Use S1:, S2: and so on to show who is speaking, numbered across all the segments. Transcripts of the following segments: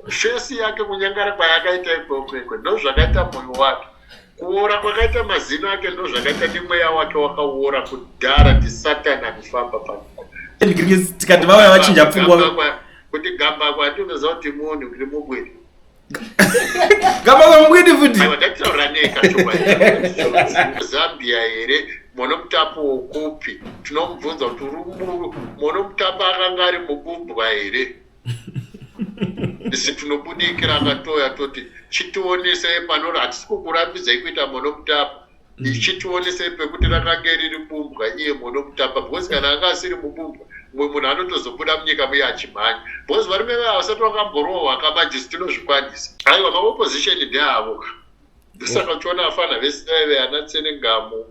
S1: fesi yake kunyangara kwayakaita ikwekwekwe ndozvakaita moyo wake kuora kwakaita mazino ake ndozvakaita nemweya wake wakaora kudhara ndisatani anofamba pano tikati
S2: vauya vachinja pfungwa kuti gamba
S1: kwati unoziva kuti munhu kuti mubwiri
S2: gamba kwamubwiri futi ndataura
S1: nekazambia here mono mutapo wokupi tinomubvunza kuti uri muru mono mutapo akanga ari mubumbwa here isi tinobudikira tatoya toti chitionesei panori hatisi kukurambidzai kuita monokutapa mm. ichitionesei pekuti rakange riri bumbwa iye monokutapa because kana anga asiri mubumbwa mumwe munhu anotozobuda munyika muye achimhanya because varume vaya vasati vakamborohwa kamajisi tinozvikwanisa aiwa maopposition ndeavo ndosaka uchiona afana vese vaive ana tsenengamu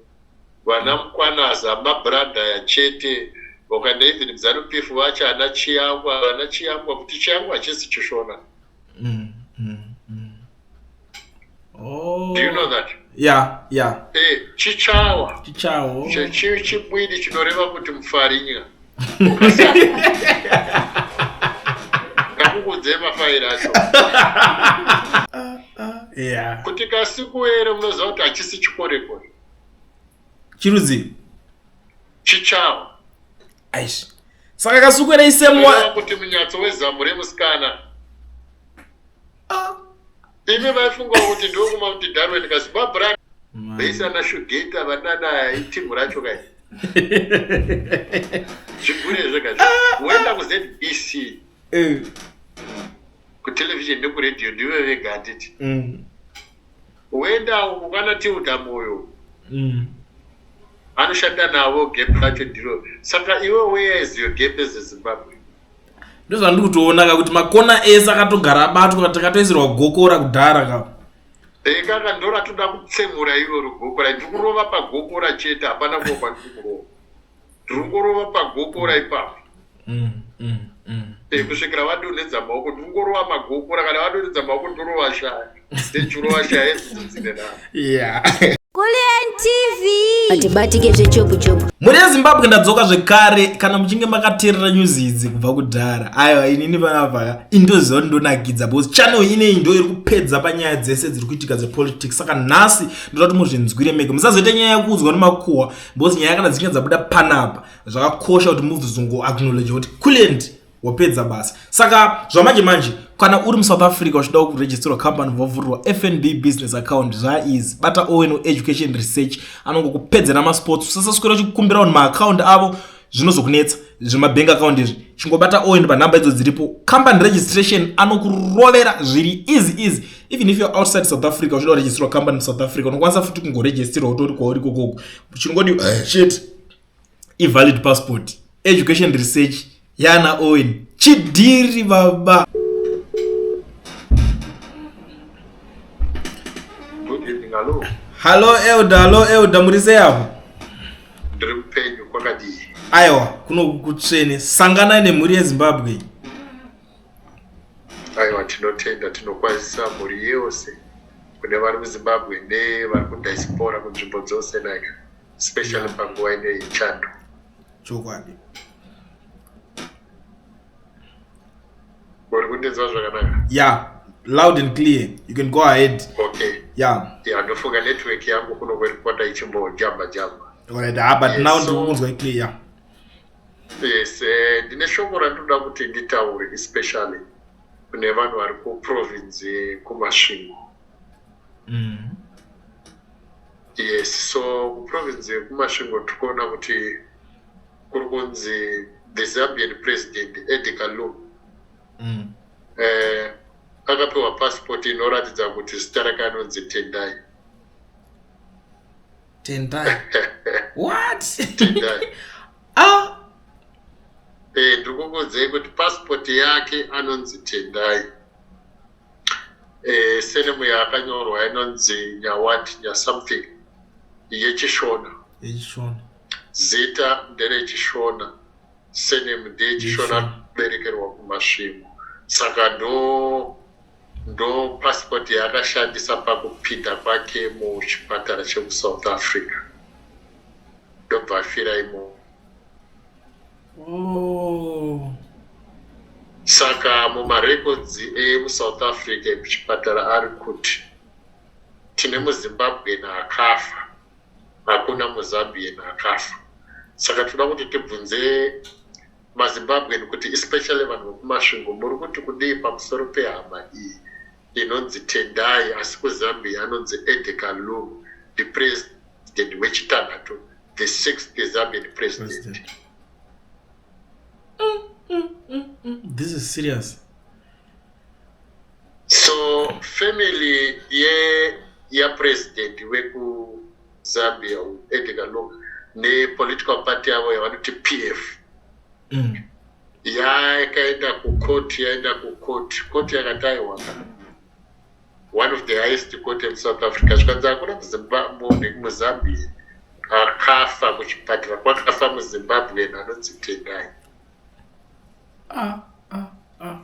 S1: Vana Mkwanaza ma bradaya chete ukaenda even kuZanu PF vachi ana Chiyangwa vana Chiyangwa kuti Chiyangwa hachisi Chishona. Mm,
S2: mm, mm. Oh. Do you know that?
S1: Yeah, yeah.
S2: Eh,
S1: chichawa. Chichawa. Chechi chibwidi chinoreva kuti mufarinya. Kakukudze mafairi acho.
S2: Yeah. Kuti kasikuere
S1: munoziva kuti hachisi chikorekore.
S2: chirudzii
S1: chichavo
S2: aish saka kasukwera isemwa kuti munyatso
S1: wezamu remusikana ah. imi vaifunga kuti ndokuma kuti darwin kazibabran vaisana shugeta vanana itimu racho kai zvigure zvega ah. woenda kuzbc eh. kutelevision nekuradio ndive vega handiti mm. Woenda uko kana Tilda Moyo uko. Mm. Anoshanda navo gap racho ndiro. Saka iwe where is your gap as a Zimbabwe? Ndozvandiri
S2: kutoona ka kuti makona ese akatogara abatwa takatoisirwa gokora kudhara ka. Ekaka
S1: ndora toda kutsemura iroro gokora ndiri kurova pagokora chete hapana kuva kwandiri kurova. Ndiri kurova pagokora ipapo. mm, mm, mm. Eh, kusvikira vadonhedza maoko ndingorova magokora kana vadonhedza maoko ndorova shaya
S2: ndechurova shaya edzidzo
S3: dzine navo yeah. hatibatike zvechopuchopu mhuri yezimbabwe
S2: ndadzoka zvekare kana muchinge makateerera news idzi kubva kudhara aiwa inini panavaka indoziva kuti ndonakidza bcause channel ineyi ndo iri kupedza panyaya dzese dziri kuitika dzepolitics saka nhasi ndoda kuti muzvinzwire mega musazoita nyaya yekuudzwa nemakuhwa bcause nyaya kana dzichinge dzabuda panapa zvakakosha kuti movies ungo acknowledge kuti kulent wapedza basa saka zvamanje manje kana uri musouth africa uchida kuregisterwa company vovhurwa fnb business account zvaizi bata owen education research anongokupedzera masports usasaswera uchikukumbira vanhu maaccount avo zvinozokunetsa zvemabank account izvi chingobata owen panhamba idzo dziripo company registration anokurovera zviri easy easy even if you're outside south africa uchida kuregisterwa company musouth africa unokwanisa futi kungoregisterwa utori kwauri kokoko chingodi eh, shit ivalid passport education research yana owen chidhiri baba hallo elda hallo elda muri sei apo ndiri
S1: mupenyu kwakadii aiwa
S2: kunokutsvene sanganai nemhuri yezimbabwe
S1: aiwa tinotenda tinokwanisa mhuri yose kune vari muzimbabwe nevari kudiaspora kunzvimbo dzose naika especially panguva ine yechando chokwadi uri kundinzwa zvakanaka ya
S2: loud and clear you can go ahead okay ya
S1: ya
S2: ndofunga network
S1: yangu kuno kweripota ichimbojamba jamba right ha ah, but
S2: now ndikukunzwa iclear
S1: yes eh, ndine shoko randinoda kuti nditaure especially kune vanhu vari kuprovince kumasvingo mm. yes so kuprovince yekumasvingo tiri kuona kuti kuri kunzi the zambian president edi kalum mm. eh, akapiwa pasipoti inoratidza kuti zita rake anonzi tendai tendai what
S2: tendai
S1: ah eh ndikukudzei kuti passport yake anonzi tendai eh, senemu yakanyorwa inonzi nyawati nyasomething yechishona yechishona zita nderechishona senemu ndeyechishona berekerwa kumasvingo saka ndo ndo passport yaakashandisa pakupinda kwake muchipatara chekusouth africa ndobva afira imomo Oh. Saka mumarecords emusouth Africa ekuchipatara ari kuti tine muzimbabwean akafa hakuna muzambian akafa saka tinoda kuti tibvunze mazimbabwean kuti especially vanhu vekumasvingo muri kuti kudii pamusoro pehama iyi Ndinonzi Tendai asi kuZambia anonzi Edgar Lungu ndiPresident wechitanhatu the sixth Zambian President. Mm,
S2: mm, mm, This is serious.
S1: So family ye ya president weku Zambia Edgar Lungu ne political party yavo yavanoti PF. Mm. yakaenda kucourt yaenda kucourt court yakataiwa one of the highest court in south africa zvikanzi hakuna muzimbabwe muzambia akafa kuchipatara kwakafa muzimbabwe anonzi tendai ah, ah, ah,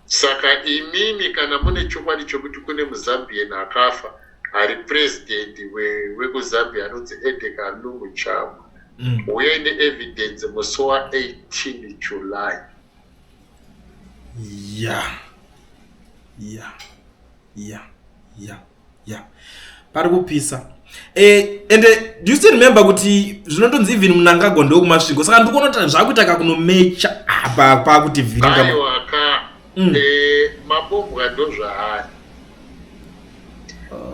S1: saka imimi kana mune chokwadi chokuti kune muzambian akafa ari president wekuzambia anonzi edeka lungu chavo mm. uyai neevidence musi wa18 july ya ya
S2: ya ya ya pari kupisa eh, and uh, do you still remember kuti zvinondonzi even munangagwa ndokumasviko saka ndikuona kuti zvakuita kakunomecha apa pakuti vhiringa
S1: mm. e, mapombwa ndozvaari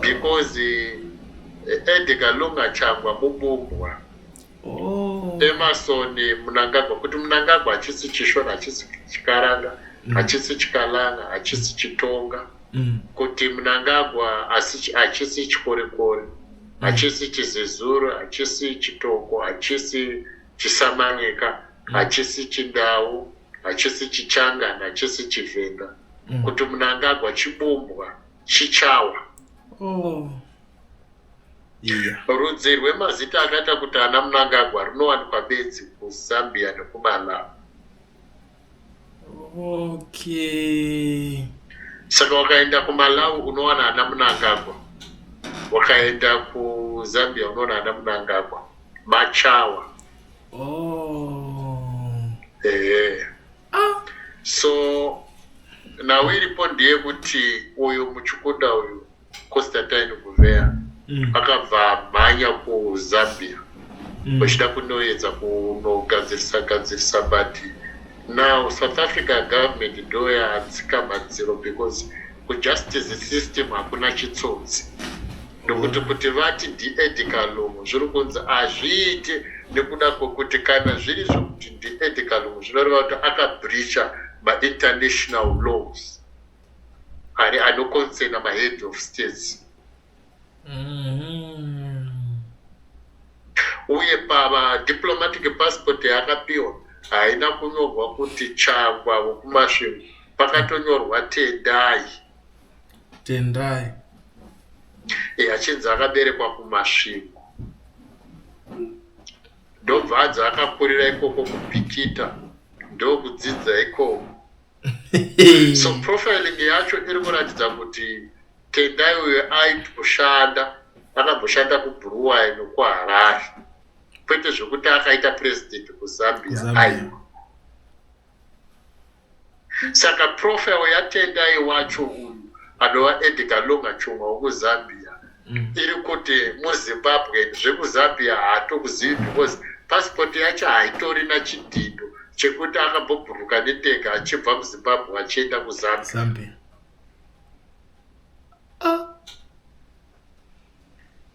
S1: because e, edgar longa changwa mupombwa oh. emerson munangagwa kuti munangagwa hachisi chishona hachisi chikaranga mm. hachisi chikalanga hachisi chitonga mm. kuti munangagwa hachisi chikorekore mm. hachisi chizezuru hachisi chitoko hachisi chisamanyika hachisi chindau hachisi chichangani hachisi chivhenga mm. kuti munangagwa chibumbwa chichawa oh. yeah. rudzi rwemazita akaita kuti ana munangagwa rinowanikwa bedzi kuzambia nekumalawi okay. saka wakaenda kumalawi unowana ana munangagwa wakaenda kuzambia unowana ana munangagwa machawa oh. ehe ah. so nhau iripo ndeyekuti uyu muchukuda uyu constantine guvea mm. akabva mhanya kuzambia mm. vachida mm. kunoedza kunogadzirisa gadzirisa but now south africa government ndoyatsika madziro because kujustice system hakuna chitsotsi ndokuti kuti vati diedicalum zviri kunzi hazviite nekuda kwekuti kana zviri zvekuti diedicalum zvinoreva kuti akabreacha mainternational laws ari anoconsena mahead of states mm-hmm. uye padiplomatic passport yaakapiwa haina kunyorwa kuti changwa vokumasvingo pakatonyorwa tendai Tendai. Eh, achinzi akaberekwa kumasvingo ndobva adzi akakurira ikoko kupikita ndokudzidza ikoko so profiling yacho iri kuratidza kuti tendai uyo aitoshanda akamboshanda kubruwai nokuharare kwete zvekuti akaita president kuzambia aiwa saka profe yatendai wacho uyu anova edgar longa chomwa wekuzambia mm. iri kuti muzimbabwe zvekuzambia haatokuzivi because pasipoti yacho haitori na chidhindo chekuti akambobhuruka netega achibva muzimbabwe achienda kuzambia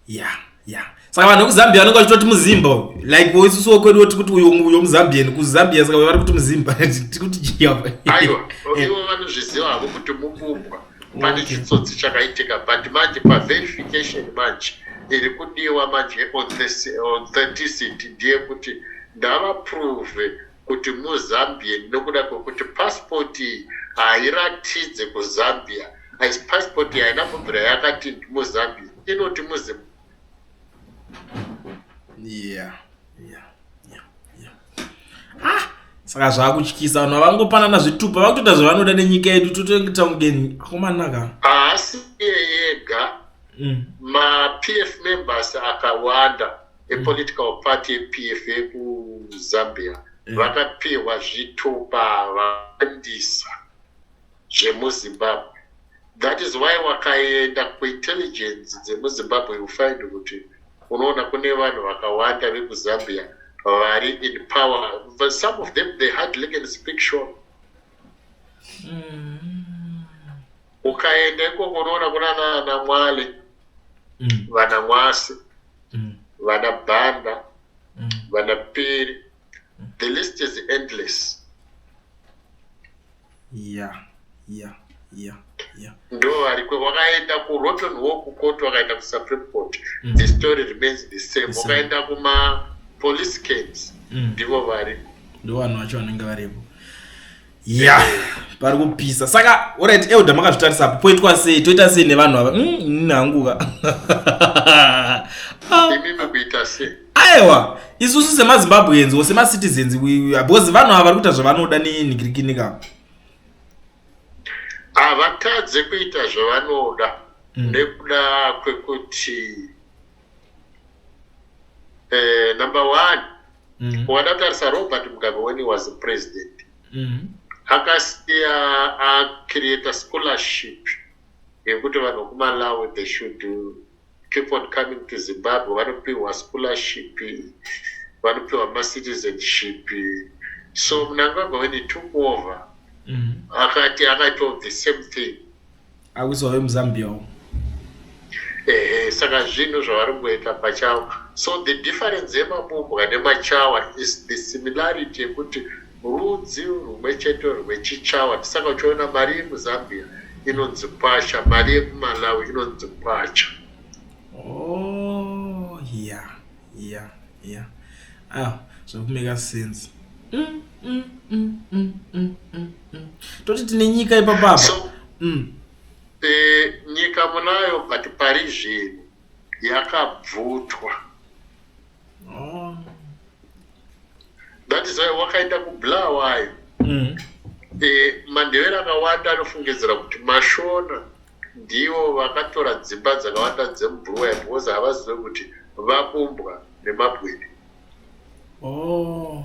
S2: yeah yeah saka vanhu vekuzambia vanenge vachitoti muzimba like isusu wekwedu woti kuti uyo uyo muzambian kuzambia saka vari kuti muzimba tikuti chiava aiwa
S1: ivo vanozviziva havo kuti mubumbwa pane chitsotsi chakaitika but manje paverification manje iri kudiwa manje authenticity ndeyekuti ndavaprove kuti muZambian nokuda kwekuti passport iyi hairatidze kuZambia asi passport iyi haina kubvira yakati ndimuZambia inoti muZim yeah yeah yeah
S2: yeah ah saka zvakutyisa vanhu vavangopanana zvitupa vakutoita zvavanoda nenyika yedu totoita mudeni akomanaka haasi
S1: yega mm. mapf members akawanda epolitical party yePF yekuZambia mm. vakapihwa zvitupa vawandisa zvemuzimbabwe that is why wakaenda kuintelligence dzemuzimbabwe you find kuti unoona kune vanhu vakawanda vekuzambia vari in power but some of them they hardly can speak short mm. ukaenda ikoko unoona kuna nana mwale mm. vana mwasi mm. vana bhanda mm. vana piri mm. the list is endless
S2: yeah yeah yeah yeah
S1: ndo variko vakaenda kuroton walk court vakaenda kusupreme court mm. the story remains the same vakaenda kuma police cams mm. ndivo variko ndo vanhu vacho
S2: vanenge varipo ya yeah. pari kupisa saka orit euda makazvitarisa apo poitwa sei toita sei nevanhu ava mm, hanguka
S1: aiwa
S2: isusu semazimbabweans or semacitizens because vanhu ava vari kuita zvavanoda nenhigirikinika
S1: havatadze kuita zvavanoda mm. nekuda kwekuti eh, number one mm -hmm. wadatarisa robert mugabe when he was the president mm -hmm. akasiya acreate scholarship yekuti vanhu kumalawi they should keep on coming to zimbabwe vanopiwa scholarship vanopiwa macitizenship so mnangagwa when he took over mm -hmm. akati akaitawo the same thing awiswa
S2: vemuzambia wo ehe
S1: saka zvinhu zvavari kuita pachavo so the difference yemabumbwa nemachawa is the similarity yekuti rudzi rumwe chete rwechichawa ndisaka uchiona mari yemuzambia inonzi kwacha mari yekumalawi inonzi kwacha oh,
S2: yeah, yeah, yeah. ah, zvakumeka sense mm, mm, mm, mm, mm, mm. mm. toti tine nyika ipapapa so, mm.
S1: e, nyika munayo but pari zvinhu yakabvutwa oh. that is why wakaita kubla wayo mm. e, mandevera akawanda anofungidzira kuti mashona ndivo vakatora dzimba dzakawanda dzemubruwaya because havazive kuti vabumbwa nemabwini oh.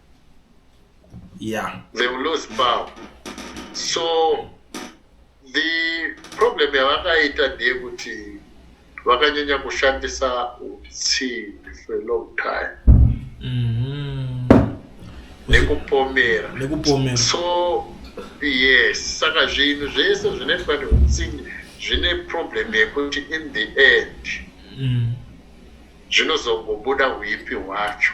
S2: yeah they will lose
S1: power so the problem yavakaita ndeyekuti vakanyanya kushandisa utsinhi for a long time mm-hmm. nekupomera nekupomera so yes saka zvinhu zvese zvinoitwa neutsinhi zvine problem yekuti in the end mm. zvinozongobuda uipi hwacho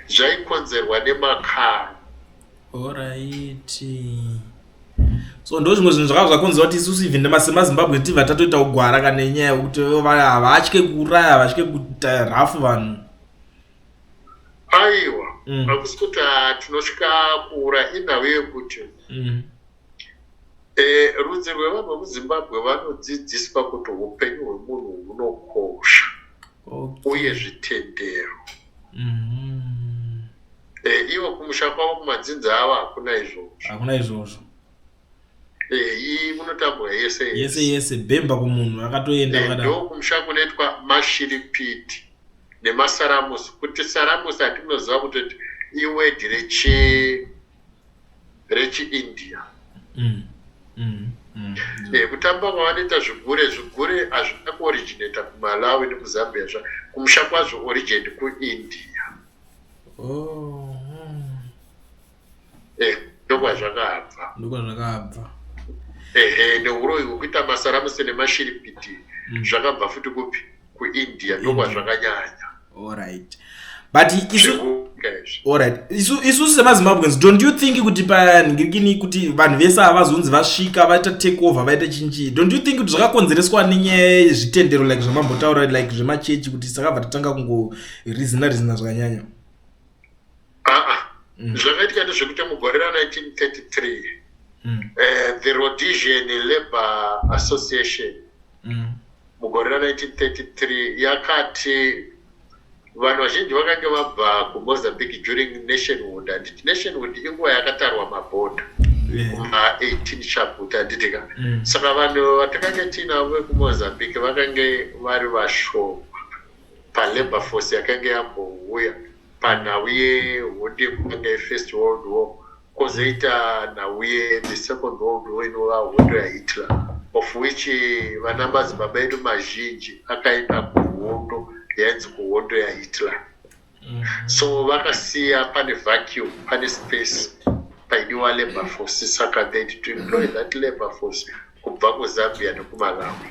S1: zvaikonzerwa nemakaro
S2: oraiti so ndo zvimwe zvinhu zvakava zvakonzi vati isusu even semazimbabwe tiva tatoita kugwara kana inyaya yekuti havatye kuuraya havatye kuita rafu vanhu
S1: aiwa mm. hakusi kuti ah, tinotya kuura inhau yekuti mm. eh, rudzi rwevanhu vemuzimbabwe vanodzidziswa kuti upenyu hwemunhu hunokosha okay. uye zvitendero mm -hmm. e, eh, ivo kumusha kwavo kumadzinza avo hakuna izvozvo hakuna izvozvo eh, iyi munotambura yese yese yese bhemba kumunhu
S2: akatoenda eh, ndo kumusha
S1: kunoitwa mashiripiti nemasaramusi kuti saramusi hatinoziva kutoti iwedhi rechi rechiindia mm. Mm. Mm. Eh, kutamba kwavanoita zvigure zvigure hazvina kuoriginata kumalawi nekuzambia zva kumusha kwazvo origin kuindia oh. eh, ndokwazvakabva ndokwazvakabva ehe neuroyi hwekuita masaramusi nemashiripiti mm. zvakabva futi kupi kuindia ndokwazvakanyanya
S2: alright but isu alright isu isu semazimbabweans don't you think kuti panhingirikini kuti vanhu vese ava vazonzi vasvika vaita take over vaita chinchi don't you think kuti zvakakonzereswa nenyaya yezvitendero like zvamambotaura like zvemachechi kuti sakabva tatanga kungo rizina rizina zvakanyanya aa
S1: mm. zvakaitika ndezvekuti mugore ra 1933 mm. uh, the rhodesian labour association mm. mugore ra 1933 yakati vanhu vazhinji vakange vabva kumozambique during nationhood handiti nationhood inguva yakatarwa mabhodha kuma 18 chaput handiti ka mm. saka vanhu vatakange tiinavo vekumozambique vakange vari vashoma palabour force yakange yambouya panhau yehondi yekunge first world war Kozoita nhauye the second world war inova hondo yahitler of which vana madzibaba edu mazhinji akaenda kuhondo yainzi kuhondo yahitler mm -hmm. so vakasiya pane vacuum pane space paidiwa labor force saka they to employ that labor force kubva kuzambia nekumalawi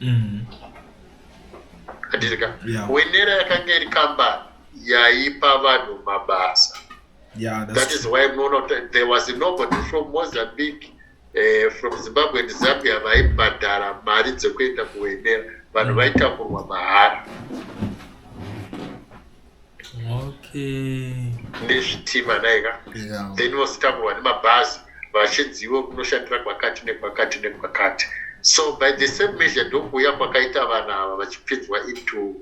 S1: mm. atirika yeah. wenera yakanga iri kambani yaipa vanhu mabasa yeah, that true. is why munoona there was nobody from mozambique eh, from zimbabwe and zambia vaibhadhara mari dzekuenda kuwenera vanhu mm. vaitakurwa mahara nezvitima naika then vositangurwa nemabhazi vachinziwo kunoshandira kwakati nekwakati nekwakati so by the same measure ndokuuya kwakaita vana ava vachipinzwa into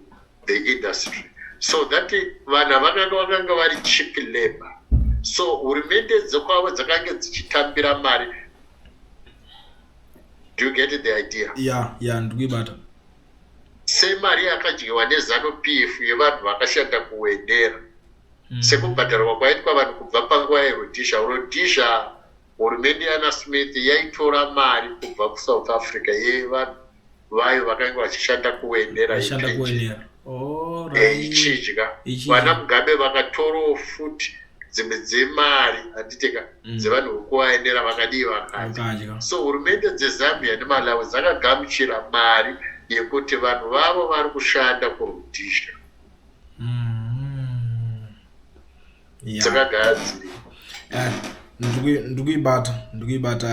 S1: the industry so that vana vakanga vakanga vari chip labor so hurumende dzokwavo dzakange dzichitambira mari do you get the idea ya ya ndikuibata semari yakadyiwa nezanu pf yevanhu vakashanda kuwendera mm. sekubhadharwa kwaitwa vanhu kubva panguva yerodhisha rodhisha hurumende yana smith yaitora mari kubva kusouth africa yevanhu vayo vakanga vachishanda kuwendera ichidya vana mugabe vakatorowo futi dzimwe dzemari handiteka mm. dzevanhu vokuvaendera vakadii vakadya so hurumende dzezambia nemalawi dzakagamuchira mari yekuti vanhu vavo vari kushanda kurudhizha mm. dzakagadziri eh,
S2: ndikuibata ndikuibata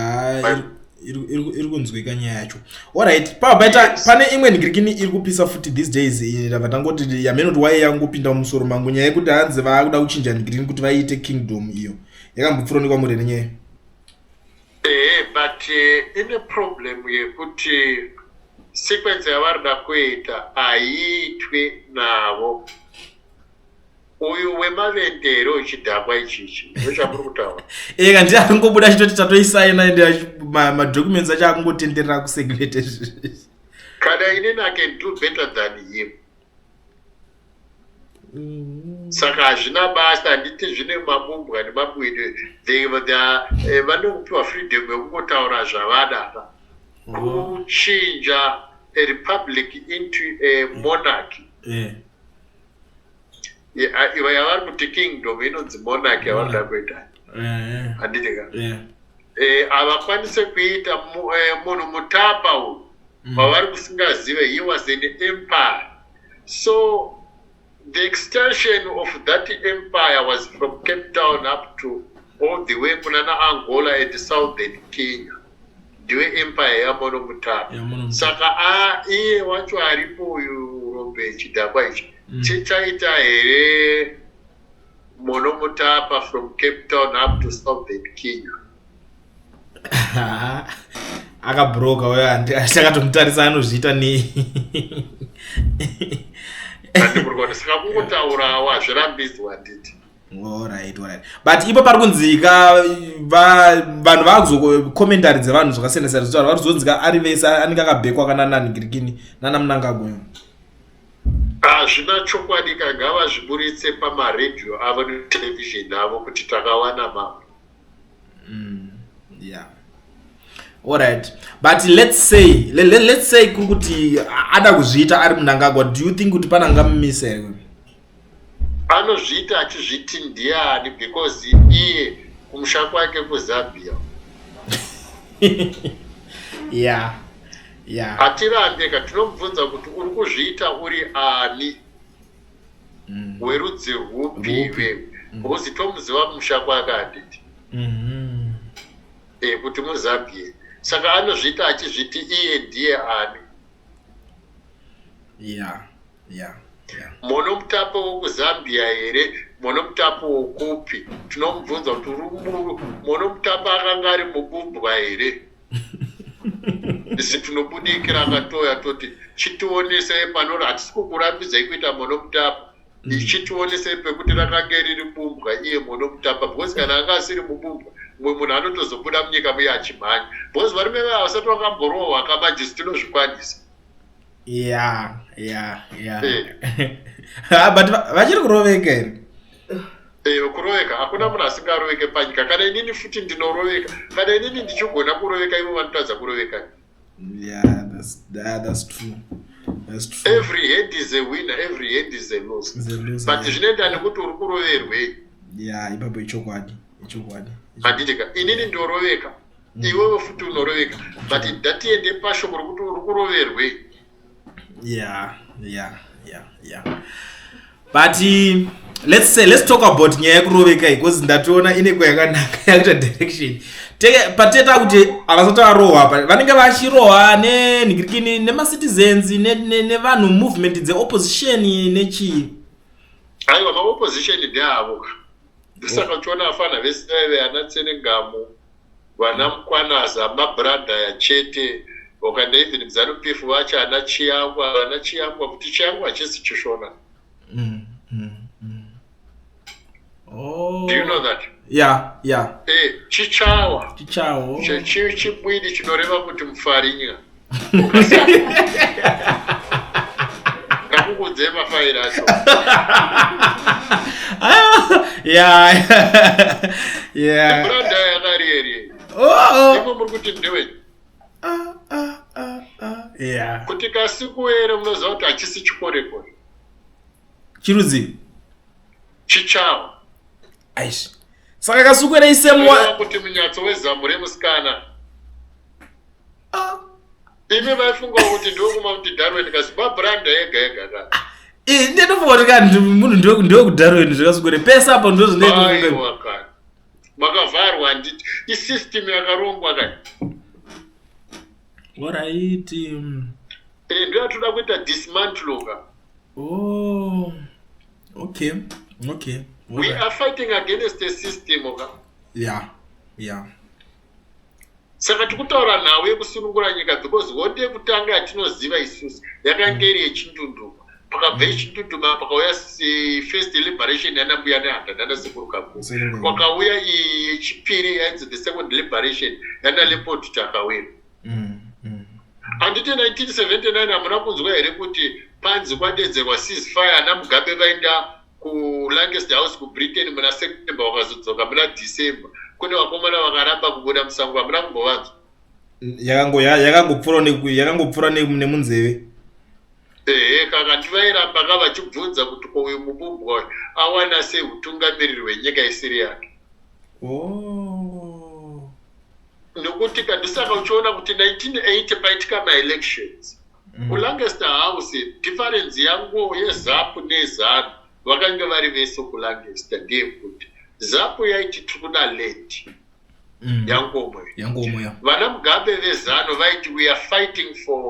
S2: iri kunzwika nyaya yacho orit pabaita pane imwe nigirikini iri kupisa futi these days ndava tangoti yamene kuti waye yangopinda mumusoro mangu nyaya yekuti hanzi vaakuda kuchinja nigirikini kuti vaiite kingdom iyo yakambopfuronikwa mure nenyaya ehe but
S1: eh, ine problem yekuti sequence yavari da kuita haiitwe navo uyu wemavetero ichidhakwa ichichi ndochamuri kutaura eka eh, ndi akungobuda
S2: achitoti tatoisaina ende madocuments acho akungotenderera kusecret
S1: kana inini i can do better than him mm. saka hazvina basa handiti zvine mabumbwa nemabwidi eh, vanokupiwa freedom yekungotaura zvavada apa mm. kuchinja a republic into a monarchy yeah. iva yavari kuti kingdom inonzi monarch yavanoda kuita handiti ka havakwanise kuita munhu mutapa uyu pavari kusingazive he was an empire so the extension of that empire was from cape town up to all the way kunana angola and southern kenya ndiwe empire yamono mutaro saka a iye wacho aripo uyu urombe chidhakwa ichi mm. chichaita here mono mutapa from cape town up to southern kenya
S2: akabroka uyo achakatomutarisa anozviita nei
S1: andimurikona saka kungotaurawo hazvirambidzwa handiti Alright, alright.
S2: But ipo pari kunzika vanhu vakuzokomentari dzevanhu zvakasiyana siyana zvitaura vari kuzonzika ari vese anenge akabhekwa kana nani girikini nana munangagwa. Hazvina
S1: chokwadi ka ngavazviburitse pamaredhiyo avo netelevision avo kuti takawana mambo. Mm,
S2: yeah. Alright. But let's say let, let, let's say kuri kuti ada kuzviita ari munangagwa do you think kuti panangamumise here? anozviita
S1: achizviti ndiani because iye kumusha kwake kuzambia
S2: yeah yeah
S1: atirambe ka tinomubvunza kuti uri kuzviita uri ani mm. werudzi rwupi iwe mm. because tomuziva kumusha kwake handiti mm-hmm. e eh, kuti muzambie saka anozviita achizviti iye ndiye ani yeah yeah. Yeah. mono mutapo wokuzambia here mono mutapo wokupi tinomubvunza kuti uri muru mono mutapo akanga ari mubumbwa here isi tinobudikira akatoya toti chitionesei panori hatisi kukurambidzai kuita mono mutapo mm. ichitionesei pekuti rakange riri bumbwa iye mono mutapa because kana anga asiri mubumbwa mumwe munhu anotozobuda munyika muye achimhanya because varume vaya vasati vakamborohwa kamanjisi tinozvikwanisa yeah
S2: yeah yeah eh. ah, but vachiri kuroveka here eyo eh,
S1: kuroveka hakuna munhu asingaroveke panyika kana inini futi ndinoroveka kana inini ndichigona kuroveka ivo vanotadza kuroveka yeah that's,
S2: that, that's true
S1: every head is a winner every head is a loss but zvinoenda nekuti uri kuroverwei ya ipapo
S2: ichokwadi ichokwadi
S1: handitika inini ndoroveka mm. iwewe futi unoroveka but ndatiende pashoko rokuti uri kuroverwei yeah yeah yeah
S2: yeah but uh, let's say let's talk about nyaya yekuroveka because ndatoona ineko yakanaka yakuita direction teke pateta kuti avasati varohwa apa vanenge vachirohwa nenhikirikini nemacitizens nevanhu movement dzeopposition nechii aiwa
S1: maopposition ndeavo ndosaka uchiona afana vese vaive ana tsenengamu Vana Mkwanaza ma brother aya chete. Ukaenda even ku Zanu PF vachi ana Chiyangwa, vana Chiyangwa futi Chiyangwa hachisi Chishona. Mm, mm, mm. Oh. Do you know that? Yeah, yeah. Eh, Chichawa. Chichawa. Chibwidi chinoreva kuti mufarinya. ngakukudzei mafairi acho kuti kasikuere munoziva kuti hachisi chikorekore
S2: chirudzi
S1: chichawo
S2: aish saka kasukuere isemwa kuti munyatso wezamu
S1: remusikana ah. imi vaifunga kuti ndokuma kuti darwen ka zimbabwranda yega yega ka eh, ndinofunga
S2: kuti munhu ndokudarwen zvakasukure pese apo ndozvinoa
S1: makavharwa handiti isystem yakarongwa ka
S2: oraiti mm. eh,
S1: ndo yatoda kuita dismantle ka oh
S2: okay okay
S1: we are fighting against a system ka yeah yeah saka tikutaura nhau yekusunungura nyika because hondi yekutanga yatinoziva isusu yakange iri yechindunduma pakabva yechindunduma pakauya first liberation yanambuya nehanda nanasekurukakuru kwakauya iyi yechipiri yainzi the second liberation yanaleopold takawira handiti 1979 hamuna kunzwa here kuti panzi kwadedzerwa ceasefire anamugabe vaenda kulangest house kubritain muna september vakazodzoka muna december kune vakomana vakaramba kubuda musango vamuna kumbovanzwa
S2: yakangopfura nemunzeve ehe
S1: kaka ndivairamba ka vachibvunza kuti ko uyu mubumbwa uyu awana sei utungamiriri hwenyika isiri yake oh. nokuti kandisaka uchiona kuti 1980 paitika maelections mm. kulancaster house difference yangu yezapu nezanu vakange vari vese kulancaster ndeyekuti zapu yaiti tiri kuda late mm. yangomoyo vana mugabe vezano vaiti weare fighting for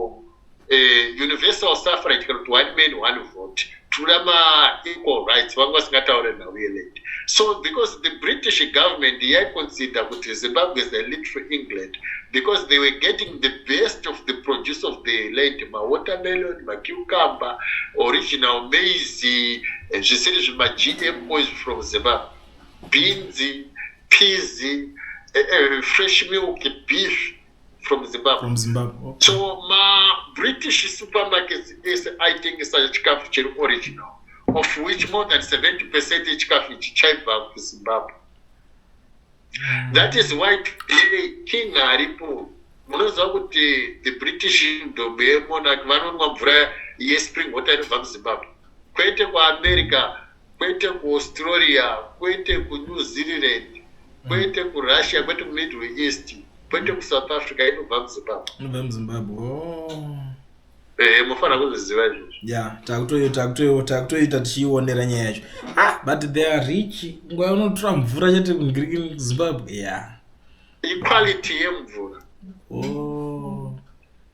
S1: uh, universal suffrage kana kuti one man one vote kudhura ma equal rights vanga vasingataure nhau yeland so because the british government yaiconsider kuti zimbabwe is a lead for england because they were getting the best of the produce of the land mawatermelon macucumber original maizy zvisiri zvimagmo izvi from zimbabwe binzi pizy uh, eh, uh, eh, fresh milk beef from zimbabwe from zimbabwe okay. so mabritish supermarkets ese aitengesa chikafu chiri original of which more than 70 percent yechikafu ichi chaibva kuzimbabwe mm. that is why today king aripo munoziva kuti the british ndombo yemonarch vanonwa mvura yespring water inobva muzimbabwe kwete kuamerica kwete kuAustralia, kwete kuNew Zealand, kwete kuRussia, kwete kuMiddle East, kwete kuSouth Africa, inobva muZimbabwe. Inobva muZimbabwe.
S2: Oh. Eh,
S1: mofanira kuzviziva izvozvo. Yeah, takutoita
S2: takutoita takutoita tichiionera nyaya yacho. Ah, but they are rich. Nguva unotora mvura chete kuGreek Zimbabwe. Yeah. Equality
S1: yemvura.
S2: Oh.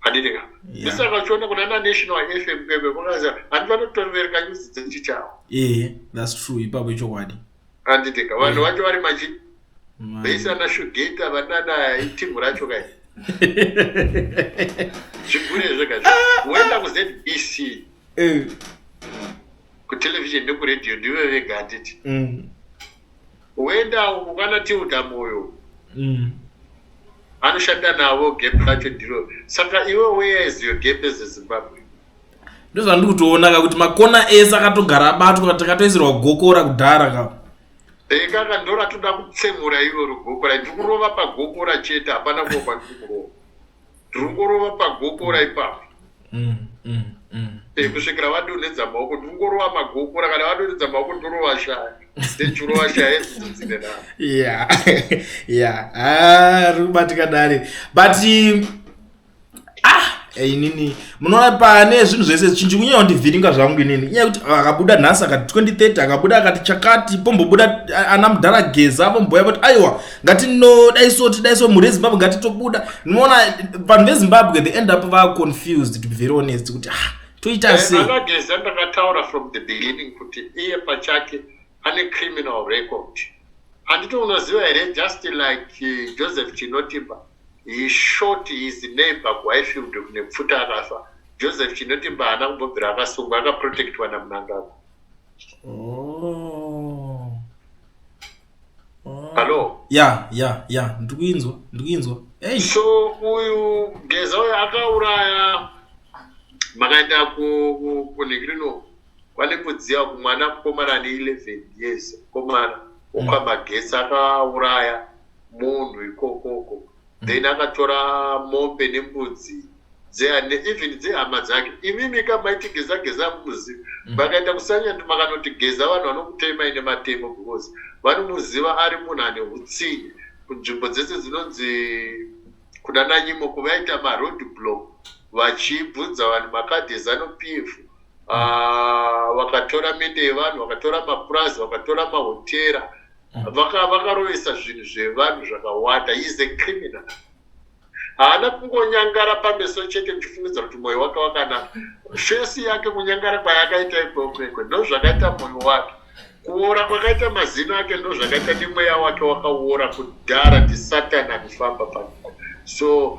S1: handitika ndisaka uchiona kuna na national fm bebe vakaza handi vanotovereka nyuzi dzechi chavo ee thats
S2: true ipapo ichokwadi handitika vanhu
S1: vacho vari machi veisana shugeta vanana itimu racho kai zvigure zvega woenda kuzbc eh. kutelevision nekuradio ndive vega handiti mm. Woenda uko kana Tilda Moyo. Mm. Anoshanda navo gap racho ndiro. Saka iwe where is your gap as a Zimbabwe? Ndozvandiri
S2: kutoona ka kuti makona ese akatogara abatwa takatoisirwa gokora kudhara ka. Ekaka
S1: ndora toda kutsemura iro rugokora ndiri kurova pagokora chete hapana kuva kwandiri kurova. Ndiri kurova pagokora ipapo. mm, mm, mm. Eh, kusvikira vadonhedza maoko ndingorova magokora kana vadonhedza maoko ndorova shaya ndechurova shaya edzidzo dzine navo ya ya ah,
S2: ri kubatika dare but ah eh, inini munoona pane zvinhu zvese zichinji kunyeya kundivhiringa zvangu inini inyaya yekuti ah, akabuda nhasi akati 2030 akabuda akati chakati pombobuda ah, ana mudhara geza pomboya kuti aiwa ngati no dai so tidai so mhuri yezimbabwe ngati tobuda noona vanhu vezimbabwe they end up va confused to be very honest kuti ah toita eh, sei anageza ndakataura
S1: from the beginning kuti iye pachake ane criminal record handiti unoziva here just like eh, joseph chinotimba he shot his neighbor kuhighfield kune pfuta akafa joseph chinotimba haana kumbobvira akasungwa akaprotectwa namunangagwa oh. Hello. Yeah, yeah, yeah.
S2: Ndikuinzwa, ndikuinzwa. Hey. So uyu
S1: Geza uyu akauraya makaenda ku ku kunigirino kwani kudziya kumwana mukomana ane 11 years mukomana mm. ukamagesa akauraya munhu ikokoko then akatora mombe nembudzi dzeane even dzehama dzake imimi ka maitigeza geza muzi mm. vakaita kusanya ndi makanoti geza vanhu vanokutema ine matemo because vanomuziva ari munhu ane utsinye kunzvimbo dzese dzinonzi kuna nanyimo kuvaita maroad block vachibvunza vanhu makadhi ezano p f ah, vakatora mende yevanhu vakatora mapurazi vakatora mahotera vakarovesa vaka zvinhu zvevanhu zvakawanda is a criminal haana kungonyangara pameso chete ndichifunidza kuti mwoyo wake wakana fesi yake kunyangara kwayakaita ikwekwekwe ndozvakaita mwoyo wake kuora kwakaita mazino ake ndozvakaita nemweya wake wakaora kudhara ndisatani anifamba panyika so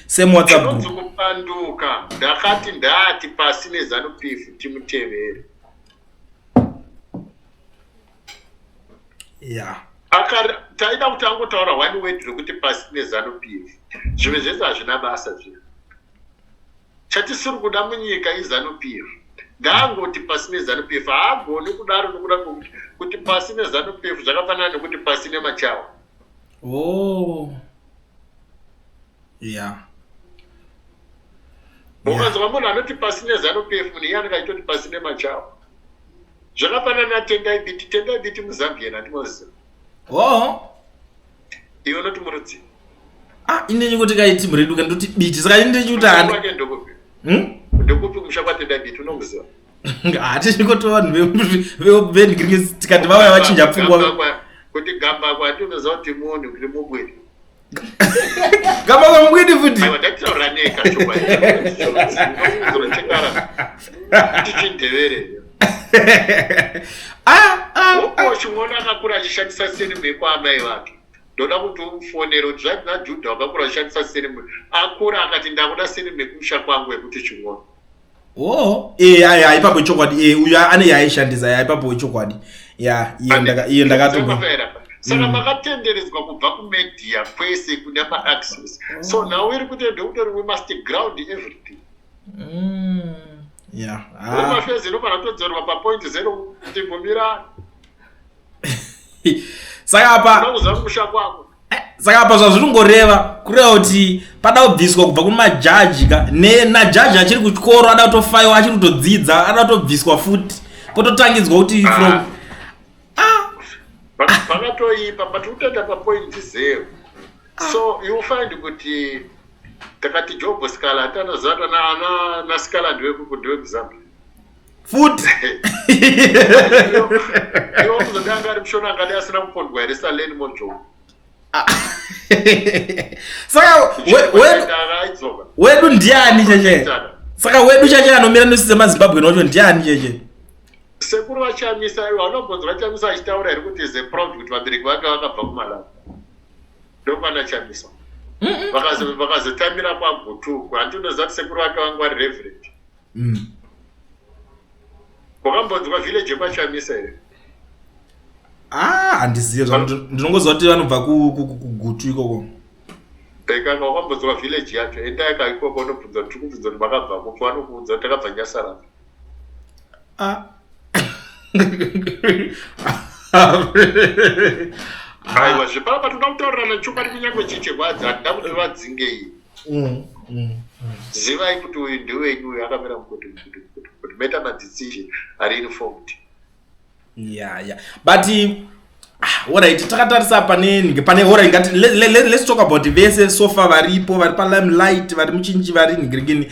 S2: same whatsapp group kupanduka
S1: ndakati ndati pasi nezanu pf timutevere yeah taida kuti angotaura one word rekuti pasi nezanu pf zvimwe zvese hazvina basa zvino chatisiri kuda munyika izanu pf ngaangoti pasi nezanu pf haagoni kudaro nokuda kuti pasi nezanu pf zvakafanana nekuti pasi nemachawa Oh. Yeah. Ukanzwa munhu anoti pasi nezanu PF munhu iye anenge achitoti pasi nemachawa. Zvakafanana natendai biti, tendai biti muZambian handimoziva. Oh. Iwe unoti murudzi. Ah, ini
S2: ndikuti kai team redu kandoti biti saka ini ndichikuti handi. Ndokupi? Hmm?
S1: Ndokupi kumusha kwatendai biti unomuziva? hatisviko
S2: to vanhu vevenhikirikisi tikati vauya vachinja pfungwa kuti gamba
S1: kwati unoziva kuti munhu kuti mubwiri
S2: gamba kwamubwidi futi ndakutaura
S1: nekachoachichindevere wokochimwona akakura achishandisa sinimbe kwaamai vake ndoda kuti umufonere kuti zvanzi najudha wakakura achishandisa sinimbe akura akati ndakuda sinimbe kumusha kwangu yekuti chimwona oh eh ya ya
S2: ipapo chokwadi eh uyu ane yaishandisa ya ipapo chokwadi ya iye ndaka iye ndakato saka mm.
S1: makatenderedzwa kubva kumedia kwese kune maaccess oh. so now iri kuti ndeutori wemaster ground everything mm. ya yeah. ah. mafezero panatodzorwa papoint zero kuti ngomirana
S2: saka apa eh, saka apa zvazviri kungoreva kureva kuti pada kubviswa kubva kumajaji ka najaji achiri kuchikoro ada kutofaiwa achiri kutodzidza ada kutobviswa futi pototangidzwa kuti ah. from ah. vakatoipa
S1: but utoenda papoint zero ah. so you find kuti takati jobo scala tanaziva kana ana nasikala ndewekuzambia
S2: futi
S1: iwo kuzoti anga ari mushona angadi asina kupondwa here saleni mojo
S2: saka wedu ndiani cheche saka wedu cheche anomira nesu semazimbabwe nocho ndiani cheche sekuru
S1: vachamisa ivo anobvunza vachamisa achitaura here kuti ze proud kuti vabereki vake vakabva kumalawi ndokwana chamisa vakazotamira kwagutuku handinoziva kuti sekuru vake vangwari reverend mm. wakambonzwa village yekwachamisa here ah,
S2: handizive ah, ndinongoziva kuti vanobva kugutu ikoko ekanga
S1: wakambonzwa village yacho endayaka ikoko unobvunza kuti kubvunza kuti makabva kupi vanokuudza kuti takabva nyasarapa ah. aiwa zvepapa toda kutaurirana chokwadi kunyange chichirwadza handida kuti vadzingei mm, mm, mm. zivai kuti uyu ndiwenyu uyu akamira mukuti mukuti mukuti mukuti meta madzisizhe ari informed ya ya
S2: but ah, orit takatarisa panenge pane orit ngati let's talk about vese sofa varipo vari palime light vari muchinji vari nigirikini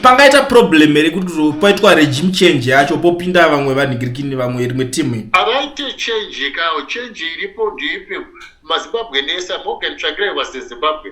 S2: pangaita problem here kuti paitwa regime change yacho popinda vamwe vanigirikini vamwe rimwe timu avaite change
S1: kao change iripo ndiipi mazimbabwe nesa morgan tsvakirai vase zimbabwe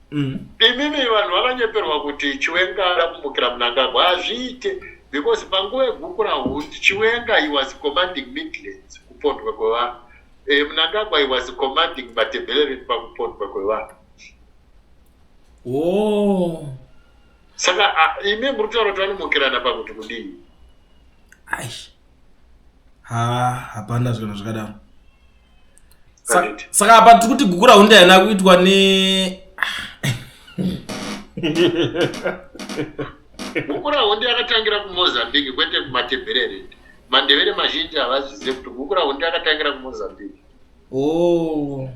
S1: mm. imimi vanhu vanonyeperwa kuti chiwenga ada kumukira munangagwa hazviite because panguva yegukura hundi chiwenga he was commanding midlands kupondwa kwevanhu e, eh, munangagwa he was commanding matebhelereni pakupondwa kwevanhu oh. saka imi muri kutaura kuti vanomukirana pakuti kudii aish
S2: ha hapana zvikana zvakadaro saka apa tiri kuti gukura hunde haina kuitwa ne
S1: gukura hunde yakatangira kumozambique kwete kumatebherere mandevere mazhinji havazizive kuti gukura hunde yakatangira kumozambique o oh.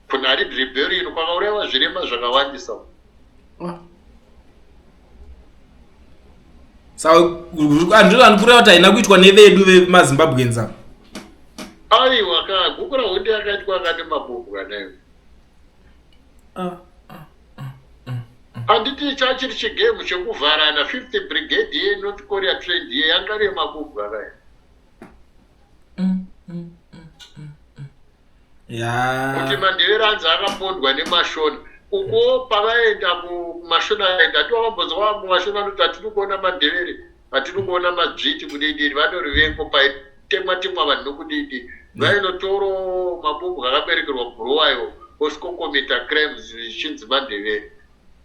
S1: kunari dribheri ino kwakaurayiwa zvirema zvakawandisa ah.
S2: saandikurea kuti haina kuitwa nevedu vemazimbabweans ava aiwa
S1: ka guku rahondi yakaitwa akane mabhobhu kanayo ah, ah, ah, handiti chachiri chigame chekuvharana fifth brigade ye north korea trend ye yanga remabhobhu kanayo Mm, mm, mm, mm, mm. Yeah. kuti mandevera anzi akapondwa nemashona ukuwo pavaenda ku- kumashona aenda ndiwo vambonzwa mumashona anoti hatiri kuona mandevere hatiri kuona madzviti kudidiri vanori vengo paitemwa temwa vanhu nokudidi vainotoro mabubwa akaberekerwa bhuruwayo osikokomita crimes zvichinzi mandevere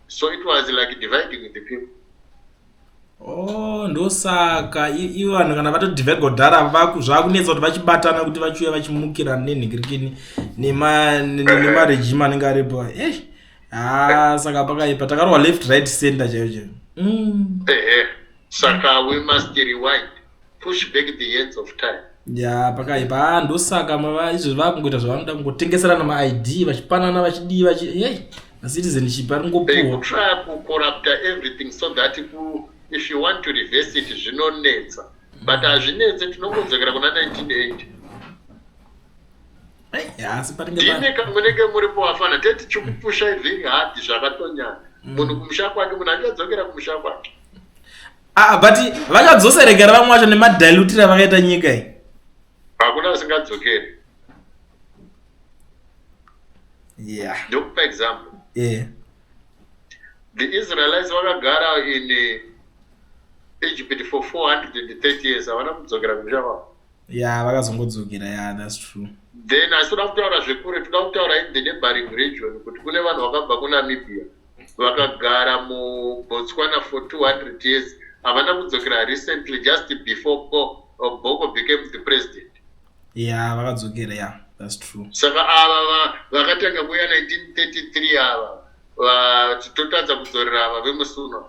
S1: so it was like dividing the people Oh,
S2: ndosaka ivo vanhu kana vatoti vegodhara zvakunetsa kuti vachibatana kuti vachiuya vachimukira nenhikirikini nemaregime anenge aripo e ha saka pakaipa takarohwa left right center chaiyo chaiyo mm. ehe
S1: saka we must rewind push back the hands of time ya pakaipa ah,
S2: ndosaka izvo vakungoita zvavanoda kungotengeserana maid vachipanana vachidii vachi hey macitizen chipa ringopuwa kucorrupta
S1: everything so that ku if you want to reverse it zvinonetsa but hazvinetse tinongodzokera kuna
S2: 1980 dine kamunenge muri
S1: povafana teti chikupusha ivhiri hadi zvakatonyana mm. munhu kumusha kwake munhu ange adzokera kumusha kwake Ah, but
S2: vakadzoserekera vamwe vacho nemadilutiri avakaita nyika iyi hakuna
S1: vasingadzokeri yeah. ndokupa example yeah. the israelites vakagara in eh, egypt for 430 years havana kudzokera kumusha kwavo ya vakazongodzokera
S2: ya thats true then asi toda
S1: kutaura zvekure toda kutaura in the neighboring region kuti kune vanhu vakabva kunamibia vakagara mubotswana for 200 years havana kudzokera recently just before bo, uh, boko became the president ya yeah, vakadzokera
S2: ya yeah. thats true saka ava
S1: vakatanga kuuya 1933 ava totadza kudzorera ava vemusuno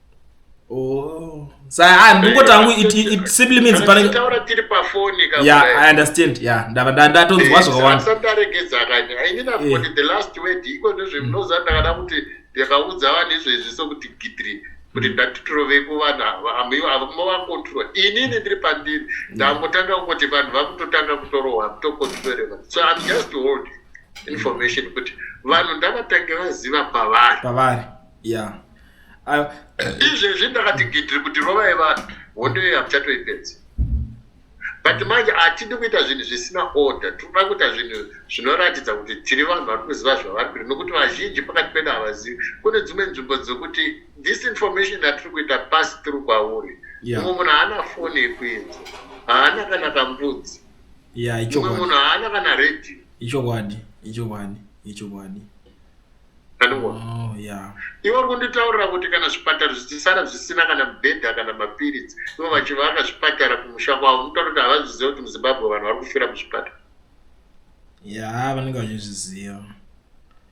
S1: Oh.
S2: So I ndingo tangu it, it, it simply means pane taura tiri pa
S1: phone ka Yeah, I understand.
S2: Yeah, ndava ndatonzwa eh, zvakawanda. Sasa ndaregedza kanya.
S1: I mean I've got eh. the last word iko nezve mm. mnoza ndakada kuti ndakaudza vanhu izvo izvi sokuti gidri kuti mm. ndatitirove kuvanhu ava amiwo ava movakontrol inini ndiri pandiri mm. ndangotanga kungoti vanhu vakutotanga kutorohwa kutokontroleva so im just hold information kuti vanhu ndavatange vaziva pavari pavari yeah izvezvi ndakati gidhiri kuti rovai vanhu hondo iyo hamuchatoipedzi but manje hatidi kuita zvinhu zvisina order tinoda kuita zvinhu zvinoratidza kuti tiri vanhu vari kuziva zvavari kuita nokuti vazhinji pakati pedu havazivi kune dzimwe nzvimbo dzokuti this information yatiri kuita pasi tiri kwauri mumwe munhu haana foni yekuinza haana kana kambudzi mumwe munhu haana kana radio ichokwadi
S2: ichokwadi ichokwadi
S1: andiona oh, yeah. ivo kunditaurira kuti kana zvipatara zvichisara zvisina kana mubhedha kana mapiritsi ivo vachivaka zvipatara kumusha kwavo unotaura kuti havazviziva kuti muzimbabwe vanhu vari kufira muzvipatara ya vanenge
S2: vachizviziva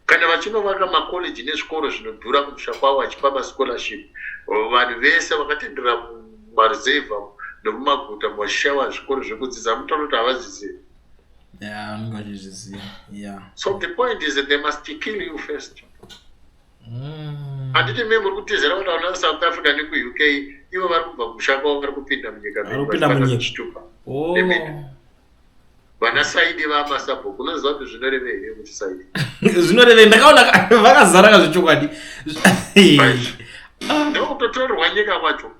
S2: kana
S1: vachinovaka makoleji nezvikoro zvinodhura kumusha kwavo vachipa mascholarship vanhu vese vakatendera mumaruzevha nemumaguta muvachishaiwa zvikoro zvekudzidza munotaura kuti havazvizivi Yeah, I'm
S2: going to just yeah. So the
S1: point is that they must kill you first. Mm. Anditi mimi muri kutizira kuti ana South Africa neku UK ivo vari kubva kumusha kwavo vari kupinda munyika vachitupa oh. vana saidi vamasabhuku unoziva kuti zvinorevei here kuti saidi zvinorevei ndakaona
S2: vakazara ka zvechokwadi
S1: ndokutotorerwa nyika kwacho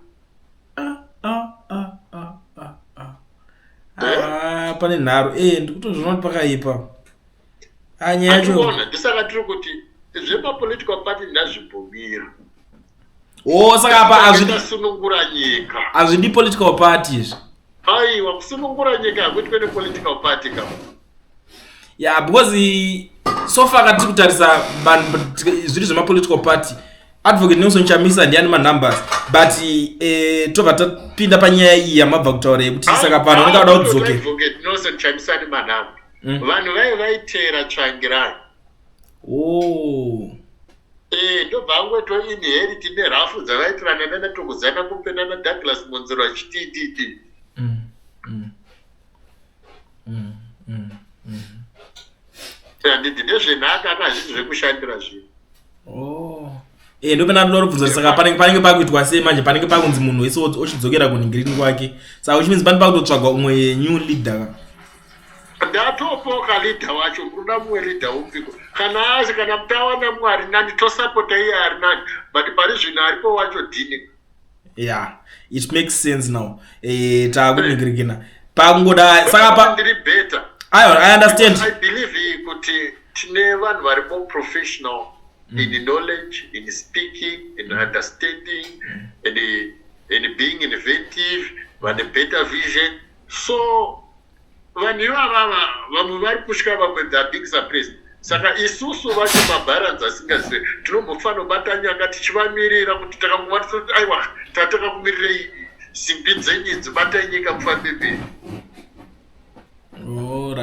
S2: Ah, pane nharo e eh, ndikutozviona kuti pakaipa ah, nyaya yacho ndisaka tiri kuti
S1: zvepapolitical party ndazvibvumira
S2: o oh, saka apa
S1: azvidi political
S2: party izvi Aiwa
S1: kusunungura nyika hakuitwe nepolitical party ka. Yeah, because
S2: so far ka tiri kutarisa zviri zvemapolitical party advocate nelson chamisa ndiani manumbers but eh, tobva tapinda panyaya iyi yamabva kutaura yekuti saka pano unenge ada kudzoke hmm.
S1: vanhu vaive vaiteera tsvangirani oh eh ndobva angoto inherit nerafu dzavaitirana nana tokudzana kumpe nana douglas monzero achitititi mm, mm, mm, mm, mm. handidi ndezvenhaka aka hazviti zvekushandira zvinhu oh. e eh, ndopena
S2: ndoda kubvunza kuti saka panenge panenge pakuitwa sei manje panenge pakunzi munhu wese ochidzokera kuningiriri kwake saka uchimidzi pane pakutotsvagwa umwe new leader ndatopoka
S1: leader wacho kuda mumwe leader upiko kana asi kana mtawana mumwe ari nani tosapota iye ari nani but pari zvino aripo wacho dini ya
S2: it makes sense now eh, takuningirikina pakungoda saka ndiri better
S1: i understand
S2: i believe
S1: kuti tine vanhu vari more professional mm. in knowledge in speaking in mm. understanding mm. in, in being inventive vane better vision So vanhu ivavava vamwe vari kutya vamwe they are being suppressed saka isusu vacho mabharanzi asingazive tinombofanira kubata nyanga tichivamirira kuti takangova tisati aiwa tatanga kumirirei simbi dzenyu idzi batai nyika mufambe mberi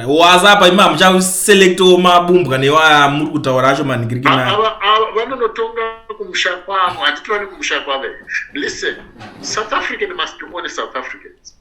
S2: waza apa ima muchaselectawo mabumbwa newaya muri kutaura acho
S1: manhingiriki
S2: nayo vanonotonga kumusha
S1: kwavo handiti vane kumusha kwavo listen south african must be one south africans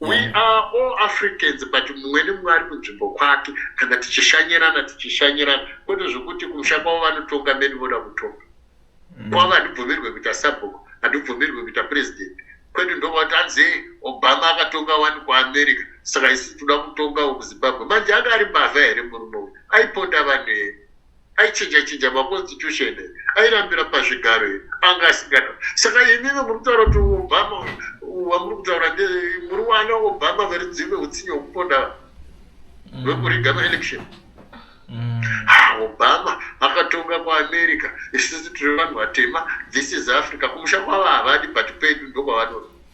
S2: we mm. are
S1: all africans but mumwe nemumwe ari kunzvimbo kwake kana tichishanyirana tichishanyirana kwete zvekuti kumusha kwavo vanotonga meni voda kutonga mm. kwavo handibvumirwe kuita sabhuku handibvumirwe kuita president kwete ndovati hanzi obama akatonga wani kuamerica saka isi tinoda kutongawo kuzimbabwe manje anga ari mbavha here murume uyu aiponda vanhu here aichinja chinja maconstitution here airambira pazvigaro here anga asingada saka imive muri kutaura kuti obama wamuri kutaura nde muri wana obama verudzive utsinye hwekuponda hwekuriga mm. maelection mm. ah, obama akatonga kuamerica isisi tiri vanhu vatema this is africa kumusha kwavo havadi but pedu ndokwavanoda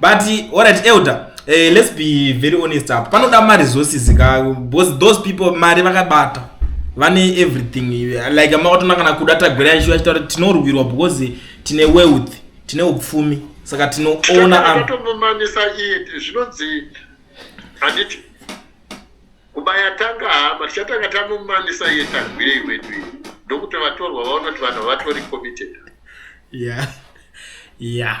S1: but
S2: alright elder eh, let's be very honest up panoda maresources ka because those people mari vakabata vane everything like makatona kana kuda tagwira yashiva chitaura kuti tinorwirwa because tine wealth tine upfumi saka tinoona anotomumanisa
S1: iye zvinonzi handiti kubaya tanga hama tichatanga tamumanisa iye tagwirei wedu iyi ndokuti vatorwa vaona kuti vanhu vatori committed yeah yeah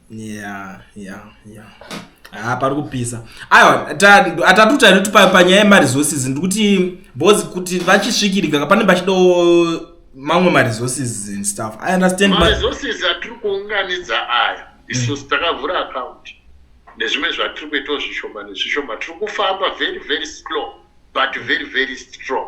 S1: yeah yeah
S2: yeah haa pari kupisa aiwa atatu tainoti panyaya yemaresources ndikuti bcause kuti vachisvikirika kapanenge pachidawo mamwe maresources and stuff i understand maresources atiri
S1: kuunganidza aya isu mm. takavhura account nezvimwe zvatiri kuitawo zvishoma nezvishoma tiri kufamba very very slow but very very strong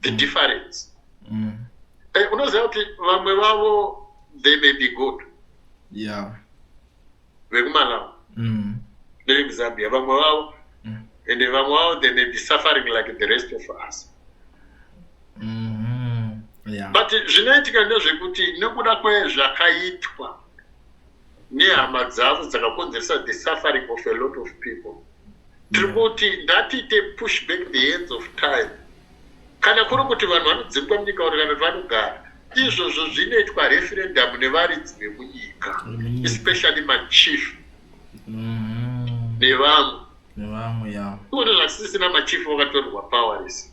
S1: the difference mm. hey, eh, unoziva kuti vamwe vavo they may be good yeah. vekumalawi mm. nevekuzambia vamwe vavo mm. ende vamwe vavo they may be suffering like the rest of us mm -hmm. yeah. but zvinoitika ndezvekuti nekuda kwezvakaitwa nehama dzadzo dzakakonzeresa the suffering of a lot of people tiri kuti ndatiite push back the hands of time kana kuri kuti vanhu vanodzingwa munyika uri kana kuti vanogara izvozvo zvinoitwa referendamu nevaridzi vemunyika especially machief mm-hmm. nevamwe nevamwe ya kuona zvasisina machief vakatorwa power rese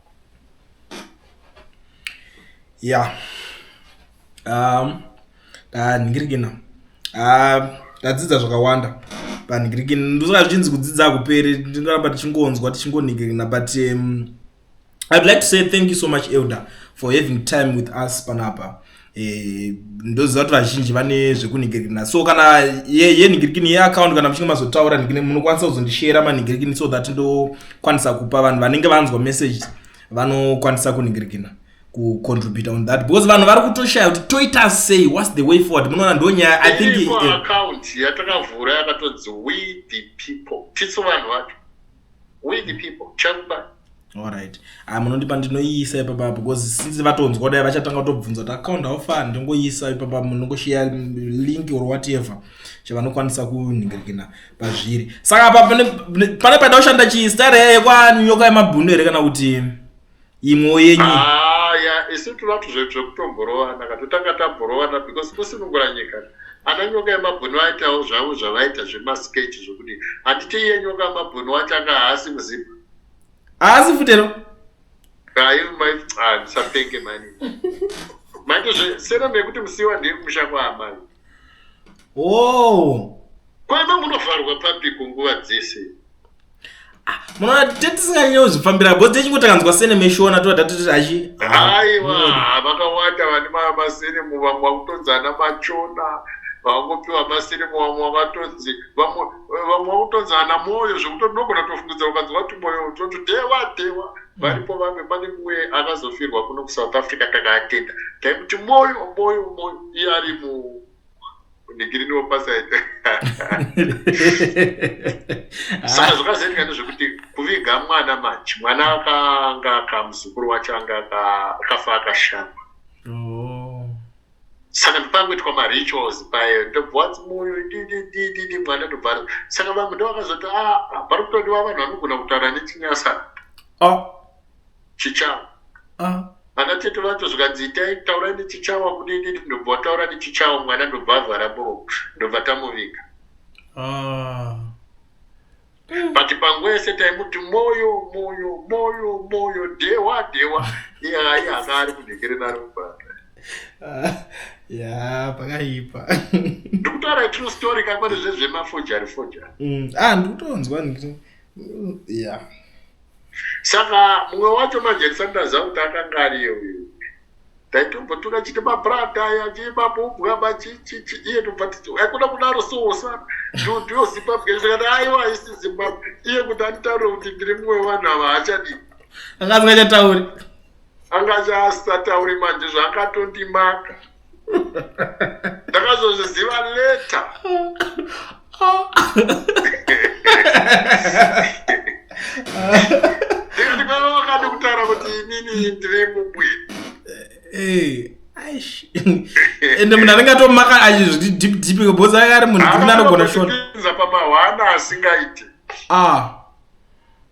S1: ya
S2: um, ndanhingirikina um, ndadzidza zvakawanda panhingirikina ndosaka zvichinzi kudzidza hakuperi ndingaramba tichingonzwa tichingonhingirikina but um, i'd like to say thank you so much elder for having time with us panapa Eh, ndoziva kuti vazhinji vane zvekunhigirikina so kana yenhigirikini yeaccount kana muchinge mazotaura nhigini munokwanisa kuzondishera manhigirikini so that ndokwanisa kupa vanhu vanenge vanzwa message vanokwanisa kunhigirikina kucontribute on that because vanhu vari kutoshaya kuti toita sei whats the way forward munoona ndo nyaya i think eh, account
S1: yatakavhura yakatozi we the people tisu vanhu vacho we the people chakuba alright
S2: ah munondipa ndinoiisa ipapa apo because since vatonzwa dai vachatanga kutobvunza kuti account how far ndongoiisa ipapa munongosheya link or whatever chavanokwanisa kunhingiririkina pazviri saka apa pane pane paida kushanda chii stare yekwanyoka yemabhunu here kana kuti imwewo yenyu aya ah, isu
S1: tinoda kuti zvedu zvekutomborovana ka totanga tamborovana because kusunungura nyika ana nyoka yemabhunu vaitawo zvavo zvavaita zvemasketch zvekuti handiti iye nyoka yemabhunu wacho anga haasi muzimba haasi
S2: futero aimandisapenge
S1: mani maitozve sena mekuti musiwa ndiri kumusha kwaamai oh kwaima munovharwa pabiko nguva dzese ah,
S2: munoona tetisinganyewo zvifambira bho techingo takanzwa sene meshona toda toti achi aiwa ah,
S1: vakawanda vane masene muvamwe vakutonzana machona vakungopiwa masene muvamwe vakatonzi vamwe vakutonzana mwoyo zvekuti ndogona tofungidza ukanzwa kuti mwoyo toti dewa dewa varipo vamwe pane mumwe akazofirwa kuno kusouth africa kana atenda taimuti moyo moyo moyo iye ari mu ndigirini wopasaita saka zvakazoitika ndezvekuti kuviga mwana manje mwana akanga kamuzukuru wacho anga akafa akashama oh. saka ndopangoitwa marituals paye ndobvadzi moyo dididididi mwana ndobvara saka vamwe ndovakazoti a ah, ah, pari kutodiwa vanhu vanogona kutaura nechinyasa ah. chichava vana tete vacho zvikanzi itai taurai nechichava kudididi ndobva wataura nechichava mwana ndobva avhara bro ndobva tamuviga mm. but panguva yese taimuti moyo moyo moyo moyo dhewa dhewa iyayi hanga ari kunhekerera ari kubata ah, ya
S2: pakaipa ndikutaura
S1: true story kakwani zvezvemafojari fojari mm. ah
S2: ndikutonzwa ndikuti ya
S1: saka mumwe wacho manje ndisati ndaziva kuti akanga ariye uyu taitomboti vachiti mabrata aya chii mabubwa machichichi iye tobva titi haikuna kudaro sosa nduti yozimbabwe zvikati aiwa haisi zimbabwe iye kuti anditaure kuti ndiri mumwe wevanhu ava haachadii anga asingachatauri
S2: anga chaasatauri
S1: manje zvaakatondimaka ndakazozviziva leta ndikava wakati kutaura kuti inini ndiri mumwe
S2: ende munhu anenge atomaka achizviti deep deep because anga ari munhu dikuna anogona shotza pamahwana
S1: asingaiti ah.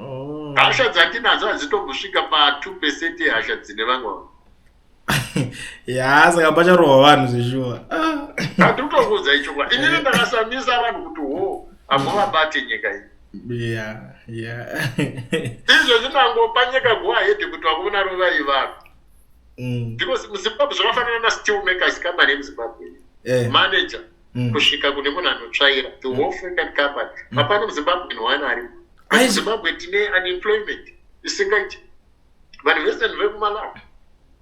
S1: Oh. hasha dzatinadzo hadzitombosvika pa2 percent yehasha dzine vamwe vanhu ya
S2: saka pacharohwa vanhu zveshuwa handitokuudza
S1: ichokwa inini ndakasamisa vanhu kuti ho hamuvabate nyika iyi ya ya izvo zvinangopa nyika guahede kuti vakuvona rovai vanhu mm. because muzimbabwe zvakafanana nastillmakers company yemuzimbabwe eh. manager mm. kusvika kune munhu anotsvaira the whole friend and company mm. hapana muzimbabwe nowana ari muzimbabwe tine unemployment isingaiti vanhu vese ni vekumalawi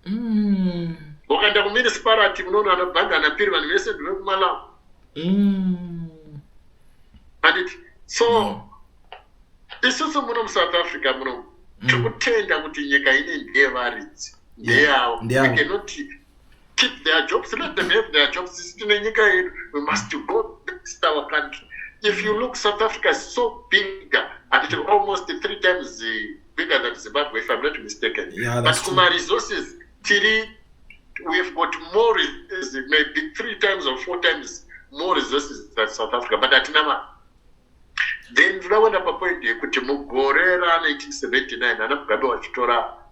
S1: mm. ukaenda kumunisiparati munoona anobhanga anapiri vanhu vese ni vekumalawi mm. anditi so isusu muno musouth africa muno tiri kutenda kuti nyika ine ndeyevaridzi ndeyavo ikenoti keep their jobs let them have their jobs sisi tine nyika yedu we must go best our country if you look south africa is so bigger and it almost three times eh, bigger than zimbabwe if i'm not mistaken yeah, but kuma resources tiri we've got more resources maybe three times or four times more resources than south africa but hatina mari then ndinoda kuenda papoint yekuti mugore ra 1979 ana mugabe vachitora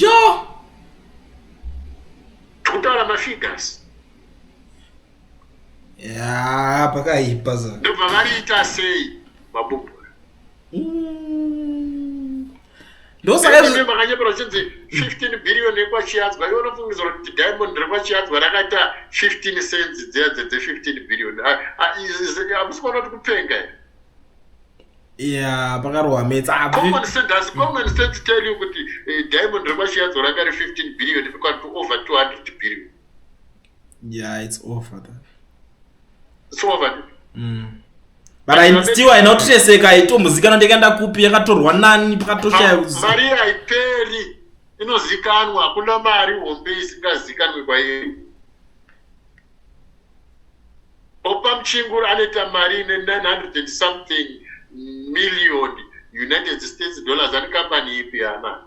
S1: yo tikutaura mafigures
S2: ya pakaipa sa ndobva variita
S1: sei mabubura
S2: mm. ndosamakanyepera chinzi
S1: 15 billion ekwachiyadzwa iwe unofungiza kuti diamond rekwachiyadzwa rakaita 15 cents dzedze dze 15 billion amusi kuona kuti kupenga here Yeah,
S2: pakarohwa metsi ah, common sense does common
S1: sense tell you kuti eh, diamond remashiyadzo ranga ri 15 billion rikwati over 200 billion
S2: yeah it's over that it's
S1: over mm.
S2: but i still i not treseka i to muzika na ndeka ndakupi yakatorwa nani pakatoshaya uzi mari i peri
S1: inozikanwa kuna mari hombe isingazikanwe kwa yeye Oppam Chinguru anoita mari ine 900 and something million United States dollars ari company ipi hama?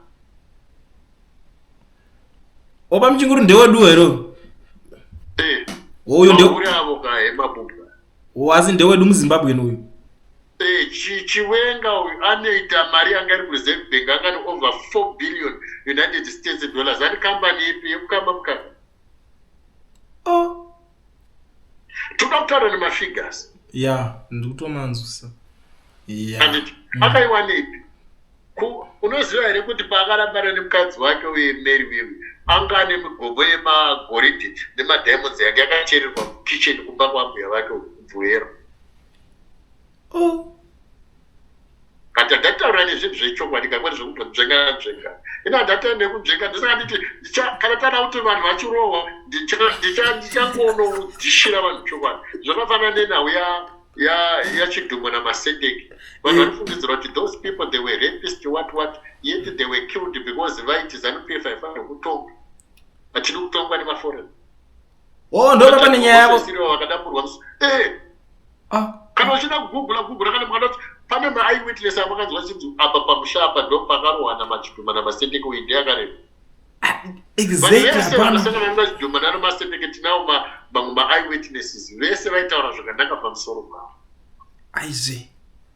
S2: Oppam Chinguru ndewedu hero? Eh. Uyu ndewe. Uri avo ka hema
S1: bubwa. Wazi ndewedu
S2: muZimbabwe uyu. Eh, chiwenga
S1: uyu anoita mari yanga iri kureserve bank angani over 4 billion united states dollars ani kambani ipi yekukamba mukamba oh. toda kutaura nemafigures ya
S2: ndikutomanzwisa anditi mm.
S1: akaiwanepi unoziva here kuti paakarambana nemukadzi wake uye mary wewe anga ane migomo yemagoridhi nemadiamonds yange yakachererwa mukitchen kumba kwambuya vake kubvuero oh. but handataura nezvinhu zvechokwadi kakwani zvekutodzvengadzvenga ino handataura nekudzvenga ndisaka nditi kana tana kuti vanhu vachirohwa ndichangonodzishira vanhu chokwadi zvakafanana nenhau yachidhumwa namasendeki vanhu mm. vanofungidzira kuti those people they were rapist what what yet they were killed because vaiti zanupf haifanira kutongwa hatidi kutongwa nemaforeign oh
S2: ndo baba nenyaya yavo siriwa vakadapurwa eh
S1: ah kana uchida kugugula gugula kana mwana kuti pane ma eye witness avo kanzwa chinzi apa pamusha apa ndo pakarohana machidhuma na masendeke uyi ndiye akareba ah,
S2: exactly vese vanasanga
S1: vanga chidhuma nano masendeke tinawo ma mamwe ma eye witnesses vese vaitaura zvakanaka pamusoro pavo aizee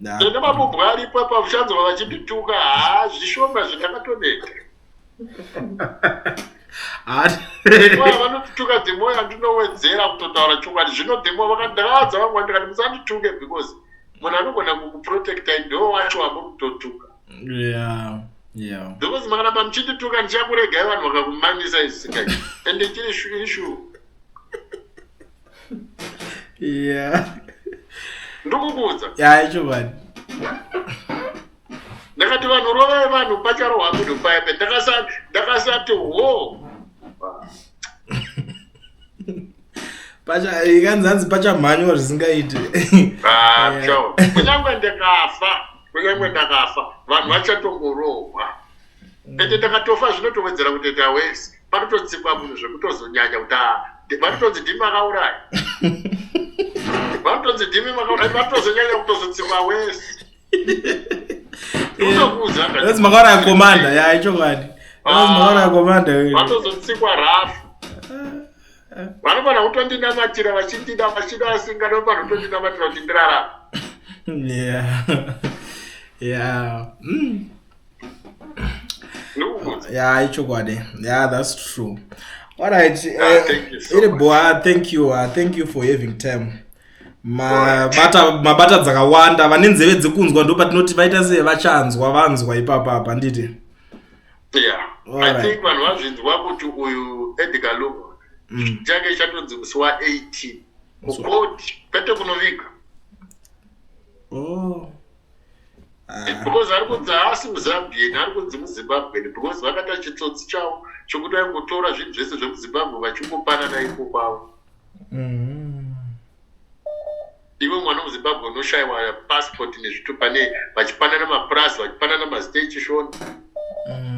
S2: ndanga mabubwa
S1: aripo apa uchanzwa vachindituka haa zvishoma zvindakatoneta vanotuka dhemoyo andinowedzera kutotaura chokwadi zvino dhemo vakandaaza vangu andikati musandituke because munhu anogona kukuprotecta ndo wacho amuri kutotuka because makanapa muchindituka ndichakuregai vanhu vakakumanyisa isingai ende chiri shuishu yeah ndikukuudza yeah chokwadi ndakati vanhu rovai vanhu pacharohwa munhu paipe ndakasati wo
S2: pacha ikanzi hanzi pachamhanywa zvisingaiti ah, kunyange
S1: ndikafa kunyange ndakafa vanhu vachatongorohwa mm. ende ndakatofa zvinotowedzera kutoita wese vanototsikwa munhu zvekutozonyanya kuti vanotonzi ndimi makauraya vanotonzi ndimi makauraya vanotozonyanya kutozotsikwa wese
S2: eh, makauraya komanda ya ichokwadi ah, makauraya komanda vanotozotsikwa
S1: rafu eh. vanofana kutondinamatira vachindida vachida vasingada vofana kutondinamatira kuti ndirarama ya ya
S2: ya ichokwadi ya thats true alright ah, eh, iri boa thank you ah, thank you for having time mabata mabata dzakawanda vane nzeve dzekunzwa ndo patinoti vaita se vachanzwa vanzwa ipapa apa nditi
S1: yeah. right. i think vanhu vazvinzwa kuti uyu edgar lugo mm. chake chatonzi musi wa 18 kukoti kwete kunoviga oh. Ah. because ari kunzi haasi muzambian ari kunzi muzimbabwen because vakaita chitsotsi chavo chokuti aingotora zvinhu zvese zvemuzimbabwe vachingopanana iko kwavo mm. iwe mwana wemuzimbabwe unoshayiwa passport nezvito pane vachipanana mapurasi vachipanana mastation mm.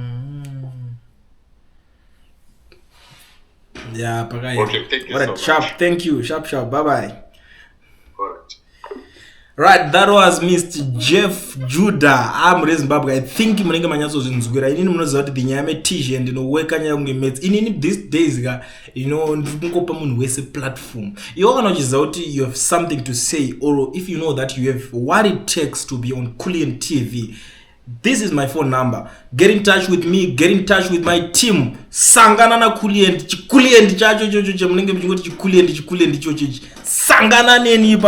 S2: yeah pakaita okay, thank you right, so sharp
S1: much. thank you
S2: sharp sharp bye bye
S1: right
S2: that was mr jeff judah am ah, rezimbabwe i think munenge manyatsozvinzwira inini munoziva kuti the nyaya metizhe ndinoweka nyaya kunge mets inini these days ka you know ndiri kungopa munhu wese platform iwo kana uchiziva kuti you have something to say or if you know that you have what it takes to be on cullian tv This is my phone number. Get in touch with me, get in touch with my team. Sangana na kulient, chikulient chacho chocho chamunenge muchingoti chikulient, chikulient chocho ichi. Sangana neni ipa